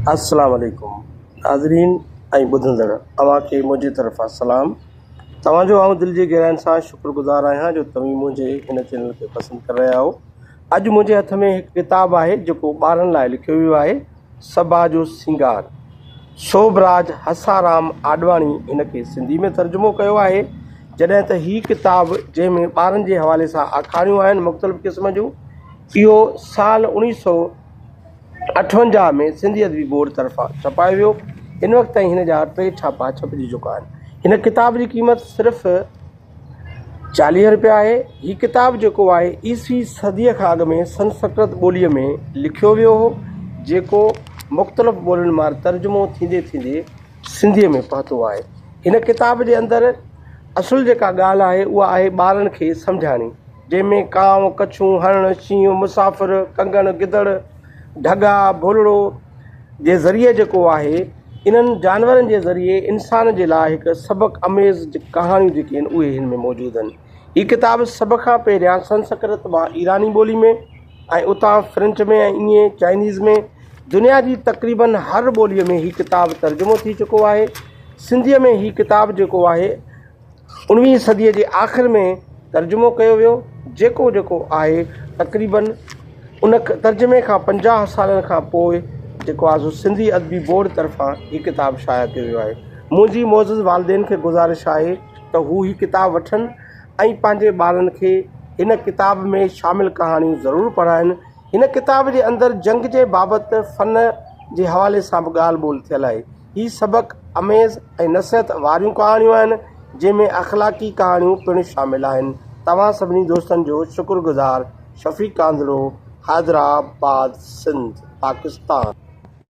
السلام عليڪم ناظرين ۽ ٻڌندڙ اوهان کي منهنجي طرفان سلام توهان جو آئون دل جي گهراين سان شڪر گذار آهيان جو توهين منهنجي هن چينل کي پسند ڪري رهيا آهو اڄ منهنجي هٿ ۾ هڪ ڪتاب آهي جيڪو ٻارن لاء لکيو ويو آهي صبا جو سينگار سوڀ راج هسارام آڏواڻي هن کي سنڌي ۾ ترجمو ڪيو آهي جڏهن ته هي ڪتاب جنهن ۾ ٻارن جي حوالي سان آکاڻيون آهن مختلف قسم جون اهو سال اوڻيهه سؤ اٺونجاهه ۾ سنڌي ادبي بورڊ طرفان ڇپايو ويو. هن وقت تائين هن جا ٽي ڇاپا ڇپجي چڪا آهن. هن ڪتاب جي قيمت صرف چاليهه رپيا آهي. هي ڪتاب جيڪو آهي عيسوي صديء کان اڳ ۾ سنسڪرت ٻوليء ۾ لکيو ويو هو، جيڪو مختلف ٻولين مان ترجمو ٿيندي ٿيندي سنڌيء ۾ پهتو آهي. هن ڪتاب جي اندر اصل جيڪا ڳالهه آهي اها آهي ٻارن کي سمجهاڻي. جنهن ۾ ڪانء، ڪڇون، هرڻ، شينهن، مسافر، ڪنگڻ، گدڙ، ڍڳا، ڀولڙو جي ذريعي جيڪو آهي انهن جانورن جي ذريعي انسان جي لاء هڪ سبق اميز ڪهاڻيون جيڪي آهن اهي هن ۾ موجود آهن هي ڪتاب سڀ کان پهريان سنسڪرت مان ايراني ٻولي ۾ ۽ اتان فرنچ ۾ ۽ ايئن چائنيز ۾ دنيا جي تقريبن هر ٻولي ۾ هي ڪتاب ترجمو ٿي چڪو آهي سنڌي ۾ هي ڪتاب جيڪو آهي انويهين صديء جي آخر ۾ ترجمو ڪيو ويو، جيڪو جيڪو آهي تقريباً ان ترجمي کان پنجاهه سالن کان پوء جيڪو آهي سو سنڌي ادبي بورڊ طرفان هي ڪتاب شايع ڪيو ويو آهي. منهنجي معزز والدين کي گذارش آهي ته هو هي ڪتاب وٺن ۽ پنهنجي ٻارن کي هن ڪتاب ۾ شامل ڪهاڻيون ضرور پڙهائين. هن ڪتاب جي اندر جنگ جي بابت فن جي حوالي سان به ڳالهه ٻولهه ٿيل آهي. هي سبق آميز ۽ نصيحت واريون ڪهاڻيون آهن جنهن ۾ اخلاقي ڪهاڻيون پڻ شامل آهن توهان سڀني دوستن جو شڪر گذار شفيق ڪانڌڙو حيدرآباد سنڌ پاڪستان.